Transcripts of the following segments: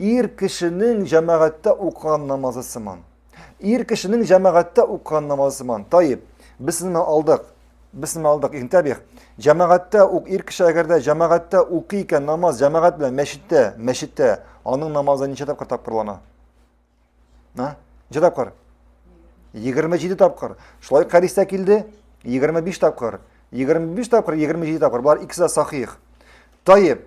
Ир кешенең җәмәгатьтә укыган намазы сыман. Ир кешенең җәмәгатьтә укыган намазы сыман. Таип, без сезне алдык. Без сезне алдык. Интәбих. Җәмәгатьтә ук ир кеше әгәр дә җәмәгатьтә укый икән намаз, җәмәгать белән мәчеттә, мәчеттә, аның намазы ничә тапкыр тапкырлана? А? Ничә тапкыр? 27 тапкыр. Шулай хәдистә килде. 25 тапкыр. 25 тапкыр, 27 тапкыр. Болар икесе дә сахих. Таеп.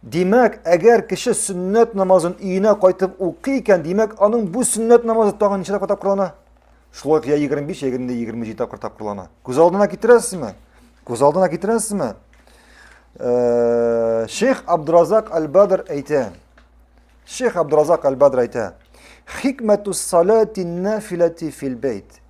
Димәк, әгәр кеше сөннәт намазын өенә кайтып укый икән, димәк, аның бу сөннәт намазы тагын ничә тапкыр тапкырлана? Шулай я 25, я 27 тапкыр тапкырлана. Күз алдына китерәсезме? Күз алдына китерәсезме? Э, Шейх Абдразак Аль-Бадр әйтә, Шейх Абдразак Аль-Бадр әйтә, Хикмәтус салати нафилати фил бейт.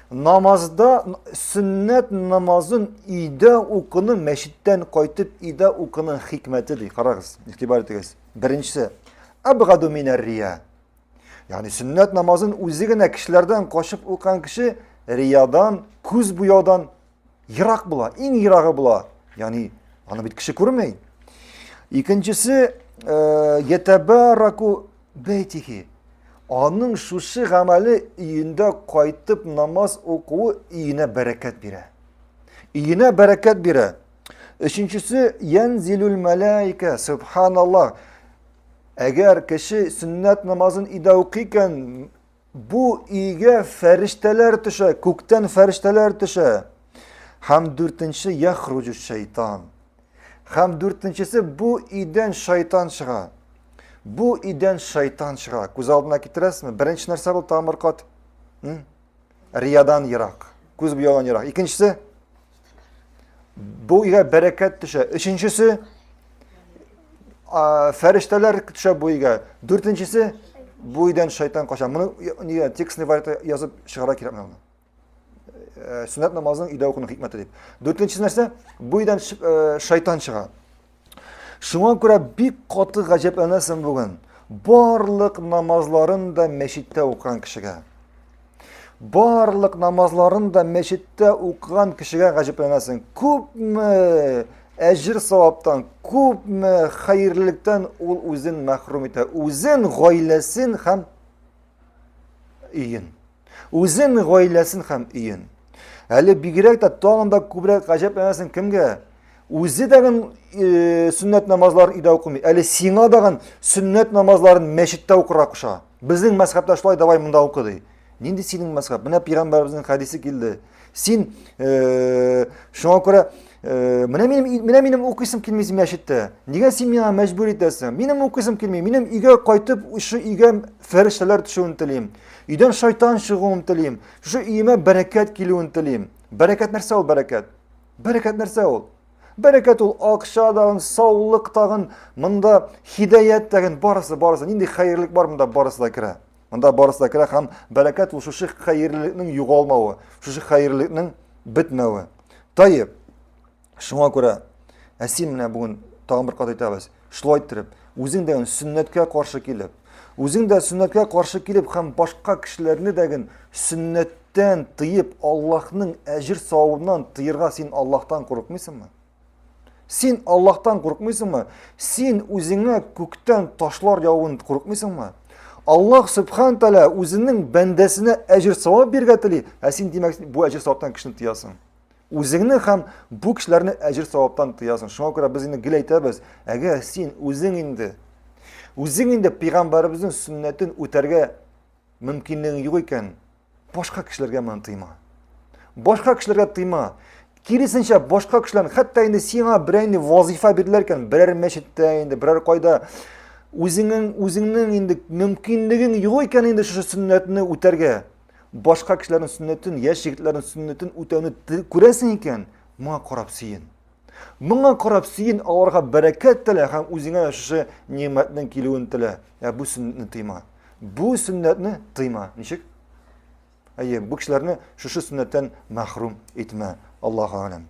Намазда сөннәт намазын өйдә укуны мәчеттән кайтып өйдә укуның хикмәте ди. Карагыз, игътибар итегез. Беренчесе, абгаду минәр рия. Ягъни сөннәт намазын үзе генә кешеләрдән качып укыган кеше риядан, күз буяудан Ерак була, иң ерагы була. Яни аны бит кеше күрмей. Икенчесе э, ятабараку бейтихи. Аның шушы гамәле өендә кайтып намаз укуы өенә бәрәкәт бирә. Өенә бәрәкәт бирә. Өченчесе янзилул мәләйкә, субханаллах. Әгәр кеше сөннәт намазын өйдә укый икән, Бу өйгә фәрештәләр төшә, күктән фәрештәләр төшә. Һәм дүртенче яхруҗу шайтан. Һәм дүртенчесе бу өйдән шайтан чыга. Бу өйдән шайтан чыга. Күз алдына китерәсезме? Беренче нәрсә бул тамыр кат. Риядан ерак. Күз буяудан ерак. Икенчесе Бу өйгә бәрәкәт төшә. Өченчесе фәрештәләр төшә бу өйгә. Дүртенчесе бу өйдән шайтан кача. Моны нигә текстный вариантта язып чыгара кирәк менә моны. Э, Сөннәт намазының өйдә укуның хикмәте дип. Дүртенчесе нәрсә? Бу өйдән э, шайтан чыга. Шуңа күрә бик каты гаҗәпләнәсең бүген. Барлык намазларын да мәчеттә укыган кешегә. Барлык намазларын да мәчеттә укыган кешегә гаҗәпләнәсең. Күпме әҗир саваптан, күпме хәерлелектән ул үзен мәхрүм итә. Үзен, гаиләсен һәм өен. Үзен, гаиләсен һәм өен. Әле бигрәк тә тагын да күбрәк гаҗәпләнәсең кемгә? Үзе дәгән э, сөннәт намазларын өйдә укымый. Әле сиңа дагын сөннәт намазларын мәчеттә укырга куша. Безнең мәзхәбтә шулай, давай монда укы ди. Нинди синең мәзхәб? Менә пәйгамбәребезнең хәдисе килде. Син э, шуңа күрә э, менә минем менә минем укыйсым килми син мәчеттә. Нигә син миңа мәҗбүр итәсең? Минем укыйсым килми. Минем өйгә кайтып, шушы өйгә фәрештәләр төшүен телим. Өйдән шайтан чыгуын телим. Шушы өемә бәрәкәт килүен телим. Бәрәкәт нәрсә ул бәрәкәт? Бәрәкәт нәрсә ул? Бәрәкәт ул акча тагын, саулык тагын, монда хидәят тагын, барысы, барысы. Нинди хәерлек бар монда, барысы да керә. Монда барысы да керә һәм бәрәкәт ул шушы хәерлелекнең югалмавы, шушы хәерлелекнең бетмәве. Таеп, шуңа күрә әсин менә бүген тагын бер кат әйтәбез, шулай иттереп, үзең дә сөннәткә каршы килеп, үзең дә сөннәткә каршы килеп һәм башка кешеләрне дәген сөннәттән тыеп, Аллаһның әҗер савабыннан тыерга син Аллаһтан курыкмыйсыңмы? Син Аллаһтан курыкмыйсыңмы? Син үзеңә күктән ташлар явын курыкмыйсыңмы? Аллаһ Субхан Тәлә үзенең бәндәсенә әҗер савап биргә тели, ә син димәк бу әҗер саваптан кешене тыясың. Үзеңне һәм бу кешеләрне әҗер саваптан тыясың. Шуңа күрә без инде гел әйтәбез, әгәр син үзең инде үзең инде пәйгамбәребезнең сөннәтен үтәргә мөмкинлегең юк икән, Башка кешеләргә моны тыйма. Башка кешеләргә тыйма. Киресенчә, башка кешеләр, хәтта инде сиңа берәр инде вазифа бирделәр икән, берәр мәчеттә инде, берәр кайда үзеңнең үзеңнең инде мөмкинлегең юк икән инде шушы сөннәтне үтәргә. Башка кешеләрнең сөннәтен, яшь егетләрнең сөннәтен үтәүне күрәсең икән, моңа карап сөен. Моңа карап сөен, аларга бәрәкәт телә һәм үзеңә шушы нимәтнең килүен телә. Ә бу сөннәтне тыйма. Бу сөннәтне тыйма. Ничек? Әйе, бу кешеләрне шушы сөннәттән мәхрүм итмә. Аллаһу алем.